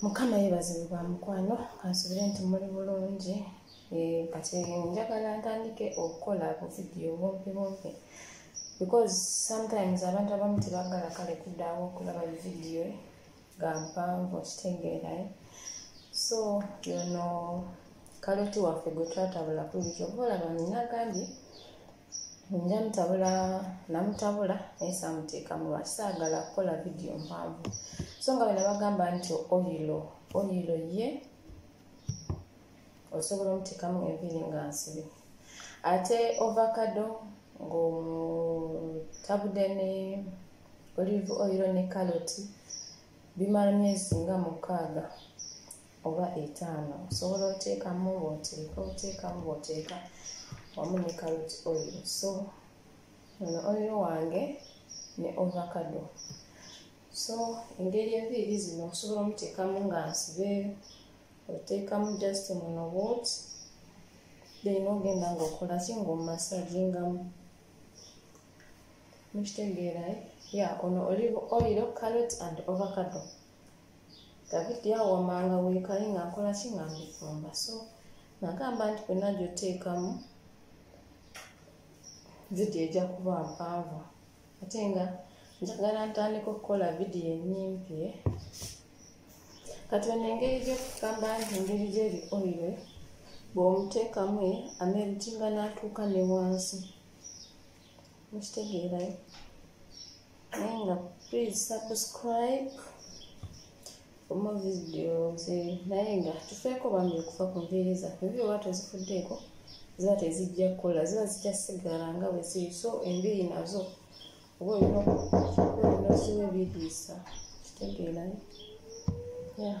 mukama yebazibwe bwa mukwano kansubire nti muli bulungi eh, kati njagala ntandike okukola buvidiyo bumpi bumpi because sometimes abantu abamu tebagala kale kuddawo okulaba bividiyo ga mpanvu okitegeerayo so yono kaloti waffe gwe twatabula kulikyo oba olaba nina gambye nja mutabula namutabula naye samuteekamu lwaki saagala kukola vidiyo mpanvu so nga bena bagamba nti oyilo oyilo ye osobola omuteekamu enviiri nga nsibi ate ovacado ng'omutabude ne olive oyilo ne kaloti bimala myezi nga mukaaga oba etaano osobola oteekamu bwoteeka oteekamu bwoteeka wamu ne carrot oil so ono oil wange ne ovacado so engeri enviiri zino osobola omuteekamu nga nsibe oteekamu just muno wot then ogenda ngaokola ki ngaomasagingamu mukitegeera ya ono olive oil carrot and ovacado davidi awamanga weekaye nga nkola ki nga mbifumba so nagamba nti kwena gyoteekamu vidiyo ejja kuba mpanvu ate nga njagala ntandika okukola vidiyo enyimpi eh? kati ono engeri gyokugamba nti engeri gyeri oire bw'omuteekamu eh, ameritinga n'atuuka ne wansi mukitegeerayo naye nga please subscribe omu vidiyo ze naye nga tufeeko bambi okufa ku nviiri zaffe enviiri oba tozifuddeeko ziba tezijja kukola ziba zijjasigala nga bwe ziri so enviiri nazo oba olina okiwa ebiriisa kitegeerayo yeah.